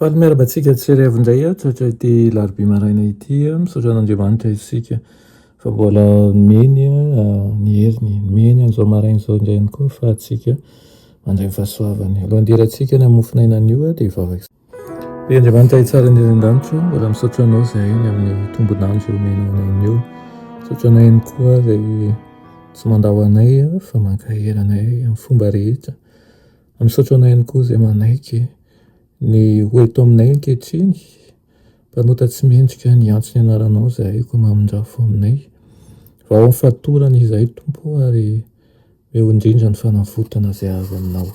Faly miarahaba antsika tsy raivo indray ato hatray ity larobia maraina ity. Misaotra an'Andriamanitra isika fa mbola nomeny ny heriny, nomeny an'izao maraina izao indray ihany koa ny fahatsika mandray ny fahasoavany. Alohan'ny hidirantsika ny hamofonainana io dia hivavaka. Ry Andriamanitra hitsara indrindra any an-danitra, mbola misaotra anao izay ny amin'ny tombon'andro omenao anay anio. Misaotra anao ihany koa izay tsy mandao anay fa mankahery anay amin'ny fomba rehetra. Misaotra anao ihany koa izay manaiky ny ho eto aminay ankehitriny. Mpanota tsy mendrika ny antso ny anaranao izahay koa mamindrafo aminay. Vao amin'ny fatorana izahay Tompo o ary eo indrindra ny fanavotana izay azo aminao.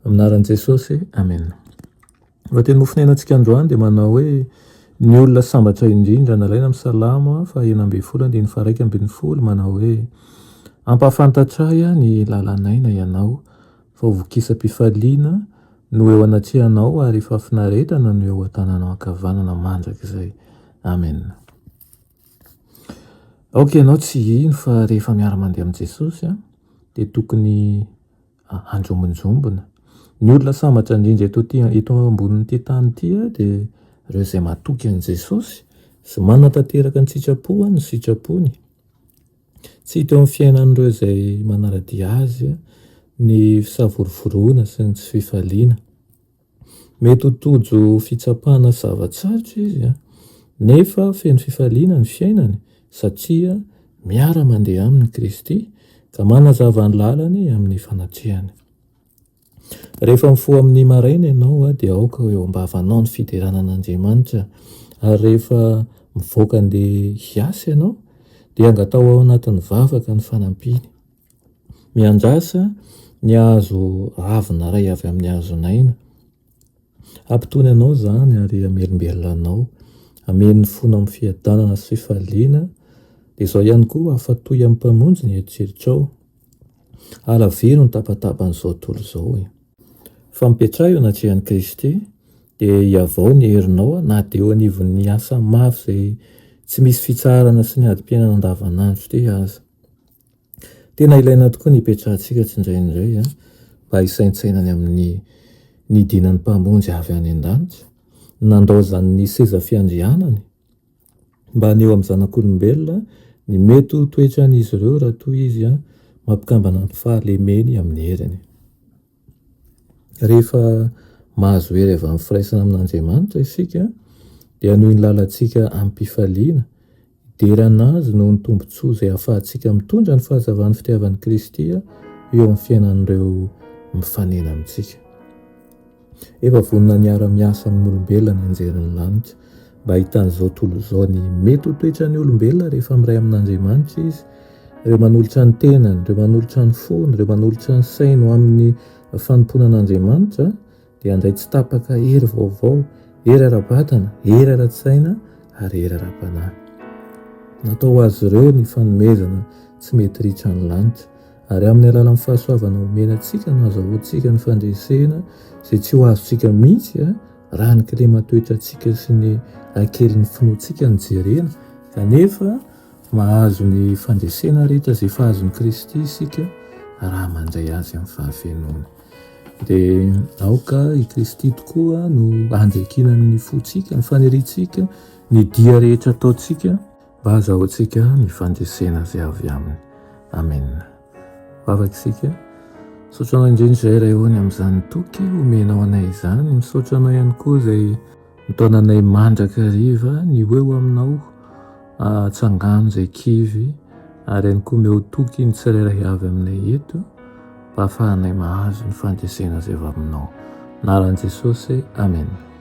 Amin'ny anaran'i Jesosy, Amena. Lohateny mofonainantsika androany dia manao hoe Ny olona sambatra indrindra, nalaina amin'ny Salamo faha enina ambin'ny folo andininy faha iraika ambin'ny folo, manao hoe, Ampahafantatray ahy ny lalan'aina Ianao, fa ho vokisam-pifaliana no eo anatrehanao ary fahafinaretana no eo an-tananao ankavanana mandrakizay. Amen. Aoka ianao tsy hino fa rehefa miara-mandeha amin'i Jesosy dia tokony anjombonjombona. Ny olona sambatra indrindra eto ty eto ambonin'ity tany ity dia ireo izay matoky an'i Jesosy sy manatanteraka ny sitrapo ny sitrapony. Tsy hita eo amin'ny fiainan'ireo izay manara-dia azy ny fisavorovoroana sy ny tsy fifaliana. Mety ho tojo fitsapana zava-tsarotra izy, nefa feno fifaliana ny fiainany, satria miara-mandeha aminy Kristy, ka manazava ny lalany amin'ny fanatrehany. Rehefa mifoha amin'ny maraina ianao, dia aoka ho eo am-bavanao ny fiderana an'Andriamanitra, ary rehefa mivoaka handeha hiasa ianao, dia angataho ao anatin'ny vavaka ny fanampiany. Mianjasa ny hazo ravina iray avy amin'ny hazon'aina. Hampitony anao izany ary hamelombelona anao. Hameno ny fonao amin'ny fiadanana sy fifaliana. Dia izao ihany koa, hafatoy amin'ny Mpamonjy ny eritreritrao. Halaviro ny tabataban'izao tontolo izao. Fa mipetraha eo anatrehan'i Kristy, dia hihavao ny herinao na dia eo anivon'ny asa maro izay tsy misy fitsaharana sy ny adim-piainana andavanandro ity aza. Tena ilaina tokoa ny hipetrahantsika tsindrainindray a, mba hisaintsaina ny amin'ny nidinan'ny Mpamonjy avy any an-danitra, nandaozany ny seza fiandrianany mba haneho amin'ny zanak'olombelona ny mety ho toetran'izy ireo raha toa izy mampikambana ny fahalemeny amin'ny heriny. Rehefa mahazo hery avy amin'ny firaisana amin'Andriamanitra isika, dia hanohy ny lalantsika amim-pifaliana. Hidera an'Azy noho ny tombontsoa izay ahafahantsika mitondra ny fahazavan'ny fitiavan'i Kristy eo amin'ny fiainan'ireo mifanena amintsika. Efa vonona ny hiara-miasa amin'olombelona nianjerin'ny lanitra. mba hahitany izao tontolo izao ny mety ho toetran'ny olombelona rehefa miray amin'Andriamanitra izy. Ireo manolotra ny tenany, ireo manolotra ny fony, ireo manolotra ny sainy ho amin'ny fanompoana an'Andriamanitra dia handray tsy tapaka hery vaovao, hery ara-batana, hery ara-tsaina ary hery ara-panahy. Natao ho azy ireo ny fanomezana tsy mety ritra ny lanitra ary amin'ny alalan'ny fahasoavana omena antsika no azahoantsika ny fandresena izay tsy ho azontsika mihitsy Raha ny kileman-toetrantsika sy ny hakelin'ny finoantsika no jerena kanefa mahazo ny fandresena rehetra izay efa azon'i Kristy isika raha mandray Azy amin'ny fahafenoany. Dia aoka i Kristy tokoa no handriakina ny fontsika, ny faniriantsika, ny dia rehetra ataontsika mba hazahoantsika ny fandresena izay avy aminy. Amen. Vavak'isika. Misaotra anao indrindra izay Ray Ony amin'izany toky omenao anay izany. Misaotra anao ihany koa izay mitaona anay mandrakariva ny ho eo aminao atsangano izay kivy ary ihany koa omeo toky ny tsirairay avy aminay eto mba hahafahanay mahazo ny fandresena izay avy aminao. Anaran'i Jesosy. Amen.